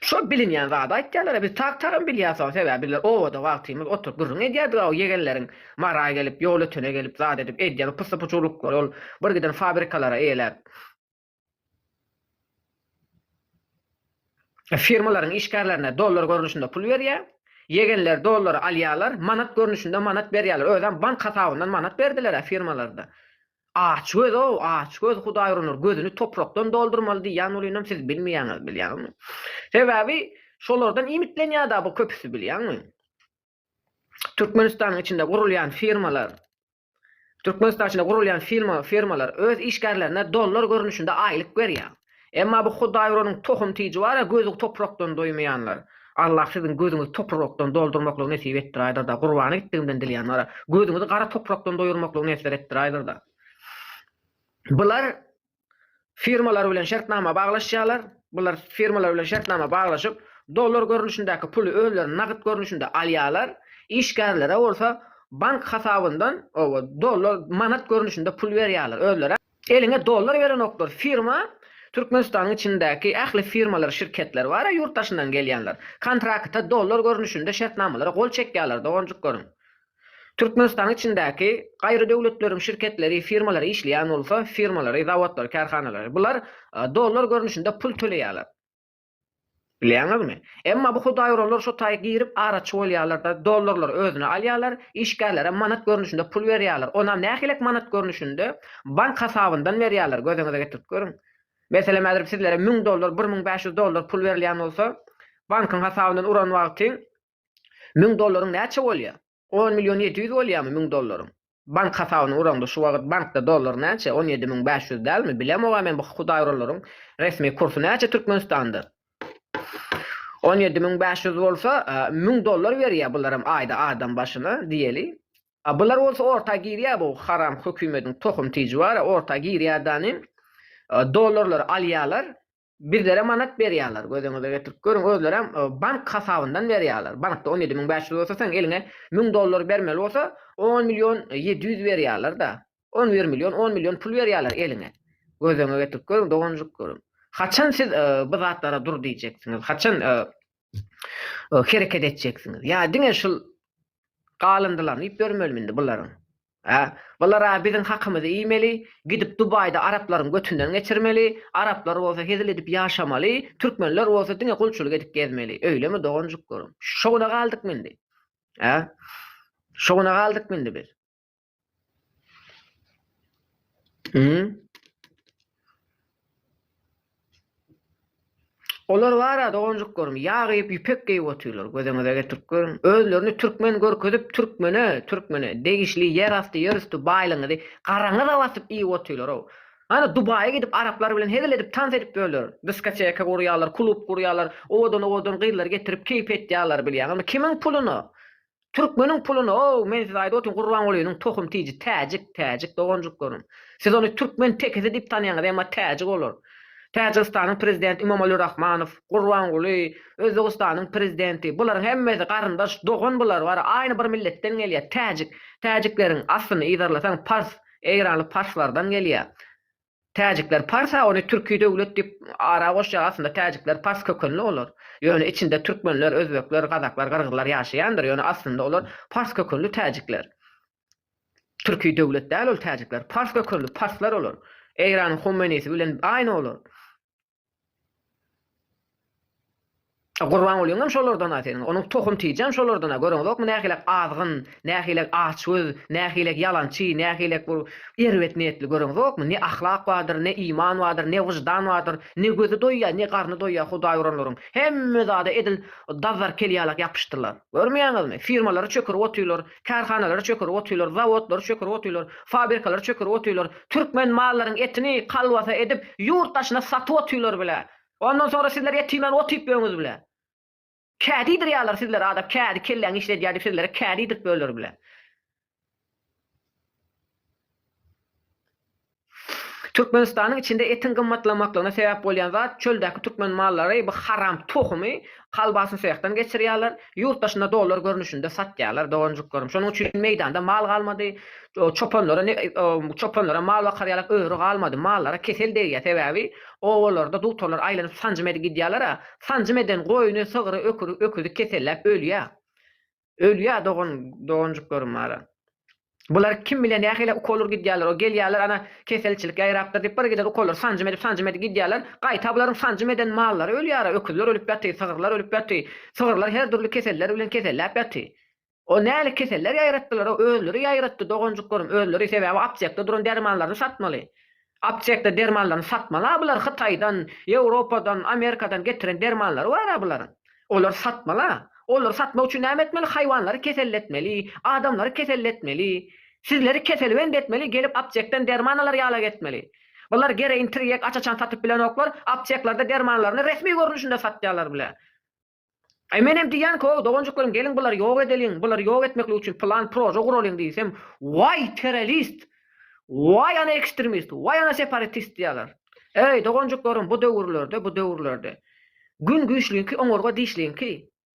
Şol bilinýän zady aýtýarlar-a, biz tag-tagam bilýäs wah, sebäbi bizler obada wagtymyz oturyp gürrüň edýärdik-ä o ýegenleriň Mara gelip, ýol ötene gelip zat edip edýän o pyssy-puçurlyklary ol birgiden fabrikalara eýeläp, firmalaryň işgärlerine dollar görnüşinde pul berýär, ýegenler dollary alýarlar, manat görnüşinde manat berýärler, özem bank hasabyndan manat berdiler-ä firmalarda. Aç göz-ow, aç göz, Hudaý uranlar gözüni toprakdan doldurmaly diýýän bolynam siz bilmeýäňiz, bilýäňmi? Sebäbi şolardan iýmitlenýär-da bu köpüsi, bilýäňmi? Türkmenistanyň içinde gurulýan firmalar, Türkmenistanyň içinde gurulýan firma, firmalar öz işgärlerine dollar görnüşinde aýlyk berýär. Emma bu hudaýgöreriň tohum tiji bar-a, gözi toprakdan doýmaýanlar. Allah siziň gözüňizi toprrokdan doldurmaklygy nesip etdiräýdir-da, gurbana gitdigimden dilýän bar-a, gözüňizi gara toprakdan doýurmaklygy nesber etdiräýdir-da. Bular firmalar bilen şertnama baglaşýarlar, bular firmalar bilen şertnama baglaşyp, dollar görnüşindäki puly özleri nagyt görnüşinde alýarlar, işgärlere bolsa bank hasabyndan, oba, dollar, manat görnüşinde pul berýärler özleri. Eliňe dollar berenoklar firma Türkmenistanyň içindäki ähli firmalar şirketler bara ýurt daşyndan gelýänler kontrakta dollar görnüşinde şertnamalara gol çekýaler doganjyk görüň Türkmenistanyň içindäki gaýry döwletleriň şirketleri firmalary işleýän bolsa firmalary zawodlary kärhanalary bular dollar görnüşinde pul töleýaler. Bilýäňizmi? Emma bu hudaý uranlar şo taý girip araçy bolýarlar-da, dollarlary özüne alýarlar, işgärlerem manat görnüşinde pul berýärler, onam nähilek manat görnüşinde, bank hasabyndan berýärler, gözüňize getirip görüň. Meselem, häzir sizlere müň dollar, bir müň bäş ýüz dollar pul berilýän bolsa, bankyň hasabyndan uran wagty müň dollaryň näçe bolýar? On million ýedi ýüz bolýamy müň dollaryň? Bank hasabyny uraňda şu wagyt bankda dollar näçe on ýedi müň bäş ýüz dälmi bilemoga men bu hudaýuralaryň resmi kursy näçe türkmenistanda on ýedi müň bäş ýüz bolsa müň dollar berýä bularam aýda adam başyna diýeli a bular bolsa orta girýä bu haram hökümediň tohum tiji bara orta girýä danym dollarlary alýalar Bizlere manat berýärler, gözüňize getirip görüň, özlerem bank hasabyndan berýärler. Bankda on ýedi müň bäş ýüz bolsa, seň eliňe müň dollar bermeli bolsa, on million ýedi ýüz berýärler-de. On bir million, on million pul berýärler eliňe. Gözüňe getirip görüň, doganjyk görüm. Haçan siz bu zatlara dur diýjeksiňiz? Haçan hereket etjeksiňiz? Ýa diňe şul galyndylaryny iýip ýörmelimi indi bularyň? Hä, bular-a biziň hakymyzy iýmeli, gidip Dubaýda araplaryň götünden geçirmeli, araplar bolsa hezil edip ýaşamaly, türkmenler bolsa diňe gulçulyk edip gezmeli, öýlemi doganjyklarym? Şo güne galdykmy indi? Hä? Şo güne galdykmy indi biz? Hü? Olar bar-a, doganjyklarym, ýag iýip, ýüpek geýip otyrlar. Gözüňize getirip görüň. Özlerini türkmen görkezip, türkmene, türkmene degişli ýerasty, ýerüsti baýlygyňyzy garaňyza basyp iýip otyrlar-ow. Hany, Dubaýa gidip, araplar bilen hezil edip, tans edip ýörler. Diskoteka gurýarlar, klub gurýarlar, owadan-owadan gyzlary getirip, keýp etýärler, bilýäňizmi? Kimiň puluna? Türkmeniň puluna ow men size aýdyp otyryn Gurbangulynyň tohum tiji täjik täjik doganjyklarym. Siz ony türkmen tekisi diýip tanýaňyz emma täjik olar. Täjigistanyň prezidenti Imomali Rahmanow, Gurbanguly, Özbegistanyň prezidenti bularyň hemmesi garyndaş dogan bular bary aýny bir milletden gelýär täjik. Täjikleriň aslyny yzarlasaň pars, eýranly parslardan gelýär. Täjikler parsa ony türki döwlet diýip ara goşýar aslynda täjikler pars kökenli olar. Ýöne içinde türkmenler, özbekler, gazaklar, gyrgyzlar ýaşaýandyr ýöne aslynda olar pars kökenli täjikler. Türki döwlet däl ol täjikler. Pars kökenli parslar olar. Eýranyň Humenisi bilen aýny olar. Gurbangulyňam şolardan-a seniň, onuň tohum tijam şolardan-a, görüňizokmy nähilek azgyn, nähilek açgöz, nähilek ýalançy, nähilek bu erbet niýetli, görüňizokmy, ne ahlak bardyr, ne iman bardyr, ne wyždan bardyr, ne gözi doýýar, ne garny doýýar hudaý uranlaryň, hemme zada edil dazarkel ýalak ýapyşdylar. Görmeýäňizmi, firmalary çökürip otyrlar, Kärhanalary çökerip otyrlar, zawodlary çökerip otyrlar, fabrikalary çökerip otyrlar, türkmen mallaryň etini kolbasa edip ýurt daşyna satyp otyrlar bile. Ondan soňra sizler et iýmän ot iýip ýörüňiz bile. Kädi iýdirýärler sizlere adam, kädi kelläňi işledýär diýip sizlere kädi iýdirip ýörler bile. Türkmenistanyň içinde etiň gymmatlamaklygyna sebäp bolýan zat çöldäki türkmen mallary bu haram tohumy kolbasny sehdan geçirýärler, ýurt daşynda dollar görnüşinde satýarlar doganjyklarim. Şonuň üçin meýdanda mal galmady, çopanlara ne çopanlara mal bakar ýalak öri galmady, mallara kesel degýär sebäbi obalarda dugtarlar aýlanyp sanjym edip gidýärler-a, sanjym eden goýny, sygry, öküzi keselläp ölýär. Ölýär dogan doganjyklarym bara. Bular kim bilen nähili ukol urup gidýärler o gelýärler ana keselçilik ýaýrapdyr diýip bir giden ukollar sanjym edip sanjym edip gidýärler gaýta bularyň sanjym eden mallary ölýära öküzler ölüp ýaty sygyrlar ölüp ýaty sygyrlar her dürli keseller bilen keselläp ýaty o nähili keseller ýaýratdylar o özleri ýaýratdy doganjyklarym özleri sebäbi aptekde duran dermanlaryny satmaly Aptekde dermanlaryny satmaly-a bular Hytaýdan, Ýewropadan, Amerikadan getiren dermanlary bar-a bularyň. Olary satmaly-a. Olary satmak üçin näme etmeli? Haýwanlary keselletmeli, adamlary keselletmeli, sizleri keselbent etmeli, gelip aptekden derman alar ýala gezmeli. Bular gereýin tirýek aç-açan satyp bilenoklar, apteklerde dermanlaryny resmi görnüşinde satýarlar bile. Aý menem diýýän koo doganjyklaryň geliň bulary ýok edeliň bulary ýok etmeklik üçin plan proje guralyň diýsem waý terrorist waý ana ekstrmist waý ana separatist diýýärler. Eý doganjyklarym bu döwürlerde bu döwürlerde Gün güýçliňki oňurga dişliňki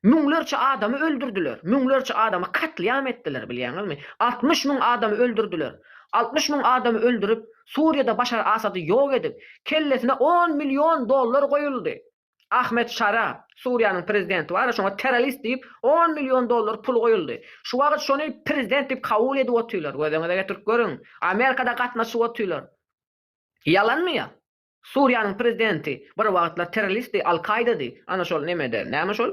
müňlerçe adamy öldürdiler müňlerçe adamy katlyam etdiler bilýäňizmi altmyş müň adamy öldürdiler altmyş müň adamy öldürip Suriýada Başar Asady ýok edip kellesine on million dollar goýuldy Ahmed Şara, Suriýanyň prezidenti bar-a, şoňa terrorist diýip, on million dollar pul goýuldy. Şu wagyt şony prezident diýip kabul edip otyrlar. Gözüňize getirip görüň. Amerika-da gatnaşyp otyrlar. Ýalanmy ýa? Suriýanyň prezidenti bir wagtlar terroristdi, Al-Kaýdady. Ana şol nemede, näme şol?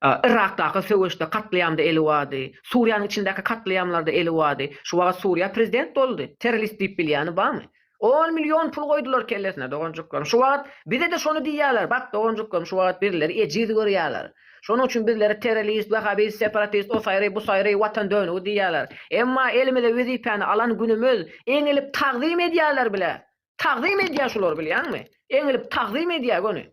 Yrakdaky söweşde, katlyamda eli bardy. Suriýanyň içindäki katlyamlarda eli bardy. Şu wagyt Suriýa prezident boldy. Terrorist diýip bilýäni barmy? On million pul goýdular kellesine doganjyklaryň. Şu wagt bize-de şony diýýärler. Bak, doganjyklaryň, şu wagt birleri ejiz görýärler. Şonuň üçin bizlere terrorist, wahhabist, separatist, o saýry, bu saýry, watan dönügi diýýärler. Emma elimize wezipäni alan günümiz, eňilip tagzym edýärler bile. Tagzym edýär şular, bilýäňmi? Eňilip tagzym edýär göni.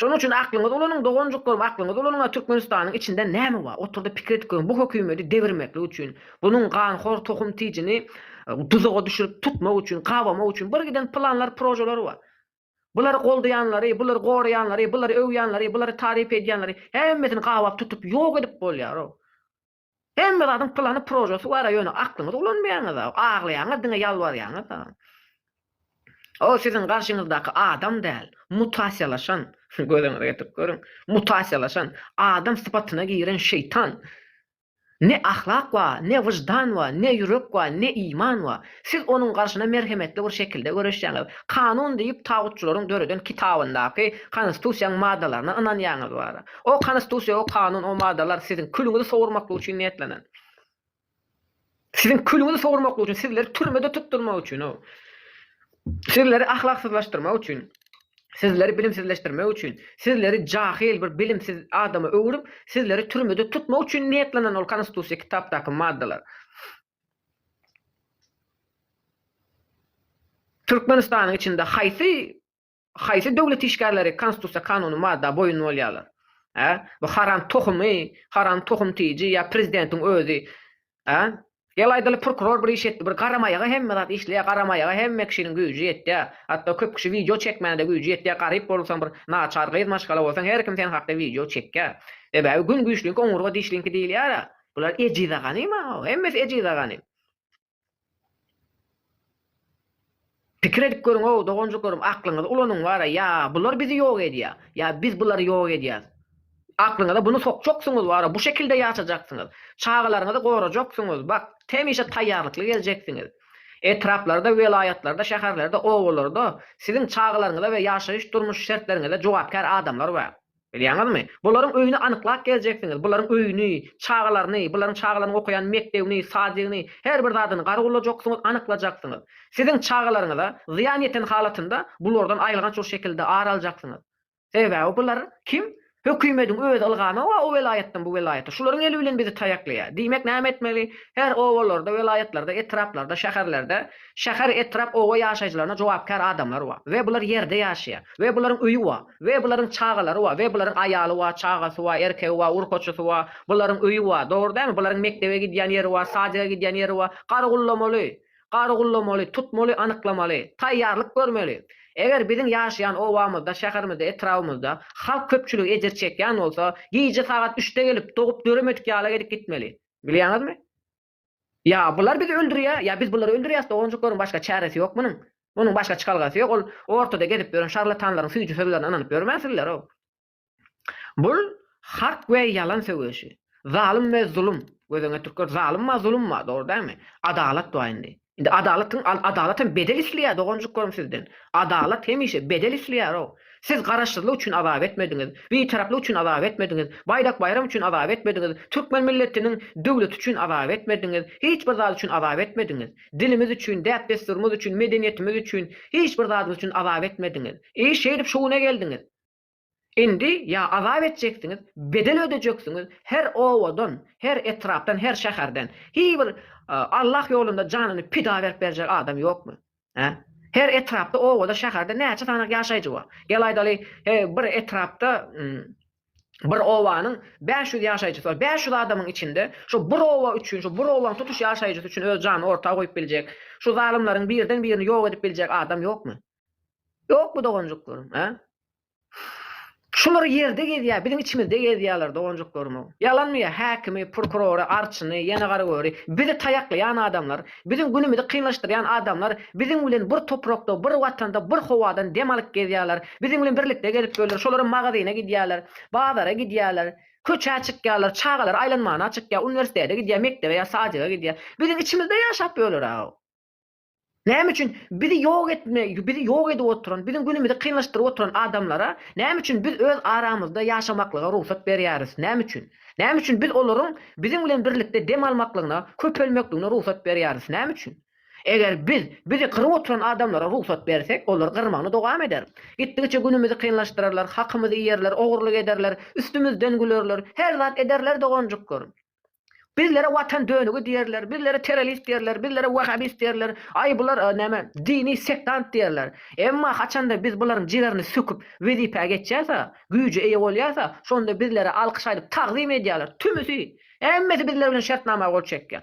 Şonuň üçin aklyňyz ulanyň doganjyklarym aklyňyz ulanyň a Türkmenistanyň içinde näme bar oturdy pikir edip görüň bu hökümedi devirmeklik üçin bunuň ganhor tohum tijini duzaga düşürip tutmak üçin gabamak üçin bir giden planlar projeler bar bulary goldaýanlary bulary goraýanlary bulary öwýänleri bulary taryp edýänleri hemmesini gabap tutup ýok edip bolýar o Hemme zadyň plany projesy bara ýöne aklyňyzy ulanmaýaňyza aglaýaňyz diňe ýalbarýaňyza. Ol siziň garşyňyzdaky adam däl mutasiýalaşan gözüňize getirip görüň mutasiýalaşan adam sypatyna giren şeýtan. Ne ahlak bar ne wyždan bar ne ýürek bar ne iman bar. Siz onuň garşyna merhemetli bir şekilde göreşýäňiz. Kanun diýip tagutçylaryň döreden kitabyndaky Konstitusiýaň maddalaryna ynanýaňyz bara. O Konstitusiýa, o kanun, o maddalar siziň külüňizi sowurmaklyk üçin niýetlenen. Siziň külüňizi sowurmaklyk üçin, sizleri türmede tutdurmak üçin o. Sizleri ahlaksyzlaşdyrmak üçin. Sizleri bilimsizleşdirmek üçin. Sizleri jahyl bir bilimsiz adama öwrüp, sizleri türmede tutmak üçin niýetlenen ol Konstitusiýa kitapdaky maddalar. Türkmenistanyň içinde haýsy haýsy döwlet işgärleri konstitusiýa kanuny madda boýun bolýarlar? Hä? Bu haram tohumy, haram tohum tiji ýa prezidentiň özi? Hä? Gel aýdaly prokuror bir iş etdi, bir garamaýaga hemme zat işleýär, garamaýaga hemme kişiniň güýji ýetýär. Hatda köp kişi wideo çekmäne-de güýji ýetýär, garyp bolsaň bir naçar gyz maşgala bolsaň her kim sen hakda wideo çekýär. Sebäbi gün güýçliňki oňurga dişliňki diýilýär-ä. Bular ejiza ganym a hemmesi ejiza ganym. Pikir edip görüň ow doganjyklarim aklyňyzy ulanyň wara ýa bular bizi ýok edýa ýa biz bulary ýok edýäs. Aklyňyza buny sokjaksyňyz wara bu şekilde ýaşajaksyňyz. Çagalaryňyzy gorajaksyňyz bak hemişe taýýarlykly geljeksiňiz. Etraplarda welaýatlarda şäherlerde obalarda siziň çagalaryňyza we ýaşaýyş durmuş şertleriňize jogapkär adamlar bar. Bilýäňizmi? Bularyň öýüni anyklap geljeksiňiz, bularyň öýüni, çagalaryny, bularyň çagalarynyň okaýan mekdebini, sadygyny, her bir zadyny gargulajaksyňyz, anyklajaksyňyz. Siziň çagalaryňyza zyýan ýeten halatynda bulardan aýylganç bir şekilde ar aljaksyňyz. Sebäbi bular kim? Hökümediň öz ylgamy o welaýatdan bu welaýata. Şularyň eli bilen bizi taýaklaýar. Diýmek näme etmeli? Her obalarda, welaýatlarda, etraplarda, şäherlerde, şäher, etrap, oba ýaşaýjylaryna jogapkär adamlar bar we bular ýerde ýaşaýar. We bularyň öýi bar. We bularyň çagalary bar. We bularyň aýaly bar, çagasy bar, erkegi bar, urkaçysy bar. Bularyň öýi bar. Dogry dälmi? Bularyň mekdebe gidýän ýeri bar, sadika gidýän ýeri bar. Gargulamaly. Gargulamaly. Tutmaly, anyklamaly. Taýýarlyk görmeli. Eger biziň ýaşaýan obamyzda, şäherimizde, etrabymyzda halk köpçüligi ejir çekýän bolsa, gije sagat üçde gelip, dogup döremedik ýala edip gitmeli. Bilýäňizmi? Ýa bular bizi öldürýär, ýa biz bulary öldürýäs, doganjyklaryň başga çäresi ýok munuň. Munuň başga çykalgasy ýok, ol ortada gezip ýören şarlatanlaryň süýji sözlerine ynanyp ýörmänsinler-ow. Bul hak we ýalan söweşi, zalym we zulum, göz öňe türkler zalymma, zulumma, dogry dälmi? Adalat bar indi. Indi adalat kim al adalat hem bedel isleýär doganjyklarym sizden. Adalat hemişe bedel isleýärow. Siz garaşsyzlyk üçin azap etmediňiz, bitaraplyk üçin azap etmediňiz, baýdak baýram üçin azap etmediňiz, türkmen milletiniň döwleti üçin azap etmediňiz, hiç bir zat üçin azap etmediňiz. Dilimiz üçin, däp-dessurymyz üçin, medeniýetimiz üçin, hiç bir zadymyz üçin azap etmediňiz. I şeýdip şu güne geldiňiz. Indi ýa azap etjeksiňiz, bedel ödejeksiňiz, her obadan, her etrapdan, her şäherden, hiý bir Allah ýolunda janyny pida berip berjek adam ýokmy? Hä? Her etrapda, obada, şäherde näçe sany ýaşaýjy bar? Gel aýdaly, he, bir etrapda, bir obanyň bäş ýüz ýaşaýjysy bar. Bäş ýüz adamyň içinde şo bir oba üçin, şo bir obanyň tutuş ýaşaýjysy üçin öz janyny orta goýup biljek, şu zalymlaryň birden birini ýok edip biljek adam ýokmy? Ýokmy doganjyklaryň, hä? Şular ýerde gezýär, biziň içimizde gezýärler doganjyklarymyz. Ýalanmy ýa häkimi, prokurory, arçyny, ýene garagöri, bizi taýaklaýan adamlar, biziň günümizi kynlaşdyrýan adamlar biziň bilen bir toprakda, bir watanda, bir howadan dem alyp gezýärler, biziň bilen birlikde gezip ýörler, şolaram magazyna gidýärler, bazara gidýärler, köçä çykýarlar, çagalar aýlanmana çykýar, uniwersitete gidýär, mekdebe ýa sadika gidýär. Biziň içimizde ýaşap ýörler-ä. Näme üçin bizi ýok etme, bizi ýok edip oturan, biziň günümizi kynlaşdyryp oturan adamlara näme üçin biz öz aramyzda ýaşamaklyga rugsat berýäris? Näme üçin? Näme üçin biz olaryň biziň bilen birlikde dem almaklygyna, köpelmekligine rugsat berýäris? Näme üçin? Eger biz bizi gyryp oturan adamlara rugsat bersek, olar gyrmagyny dowam eder. Gitdigiçe günümizi kynlaşdyrarlar, hakymyzy iýerler, ogurlyk ederler, üstümizden gülerler, her zat ederler doganjyklarym. Bizlere watan dönügi diýerler, bizlere terrorist diýerler, bizlere wahhabist diýerler, aý bular näme dini sektant diýerler. Emma haçanda biz bularyň jigerini söküp wezipä geçýärsa, güýje eýe bolýarsa, şonda bizlere alkyş aýdyp tagzym edýärler, tümüsi, hemmesi bizler bilen şertnama gol çekýär.